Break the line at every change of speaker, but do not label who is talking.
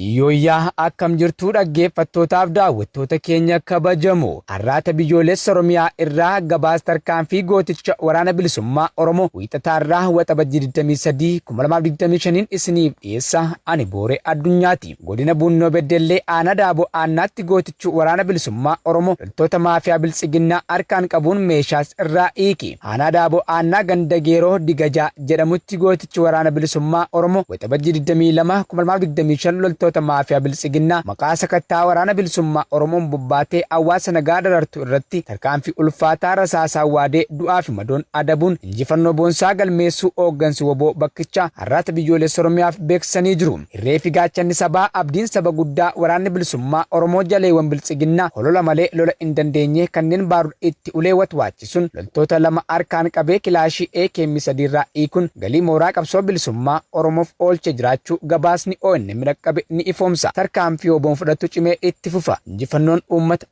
Yooyyaa akkam jirtuu dhaggeeffattootaaf daawwattoota keenya kabajamoo har'aata biyyoolessa Oromiyaa irraa gabaas tarkaanfii gooticha waraana bilisummaa Oromoo wiixataa irraa waxabajjii 23 2025 isiniif dhiyeessa ani booree addunyaati. Godina Buunnoo Beddellee Aanaa Daaboo Aannaatti Gootichuu Waraana Bilisummaa Oromoo loltoota maafiyaa Biltsiginnaa harkaan qabuun meeshaas irraa hiike. Aanaa Daaboo Aannaa ganda Geeroo Digajaa jedhamutti Gootichi Waraana Bilisummaa Oromoo Waxabajjii 22, 2025 loltoota maafiyaa Biltsiginnaa maqaa sakatta'a Waraana Bilisummaa Oromoon bobbaatee hawaasa nagaa darartu irratti tarkaanfii ulfaataa rasaasaan waadee du'aa fi madoon adabuun injifannoo boonsaa galmeessuu hooggansi wbo bakkichaa Arraata Biyyoolessa Oromiyaaf beeksisanii jiru. Irree fi gaachanni sabaa, abdiin saba guddaa Waraanni Bilisummaa Oromoo jaleewwan Biltsiginnaa holola malee lola hin dandeenye kanneen baarud itti ulee watwaachisuun loltoota lama harkaan qabee kilaashii akm sadii irraa hiikuun galii mooraa qabsoo bilisummaa Oromoof oolchee jiraachuu gabaasni onm dhaqqabe ni ifoomsa. Tarkaanfii wbon fudhattu cimee itti fufa. Injifannoon Uummata.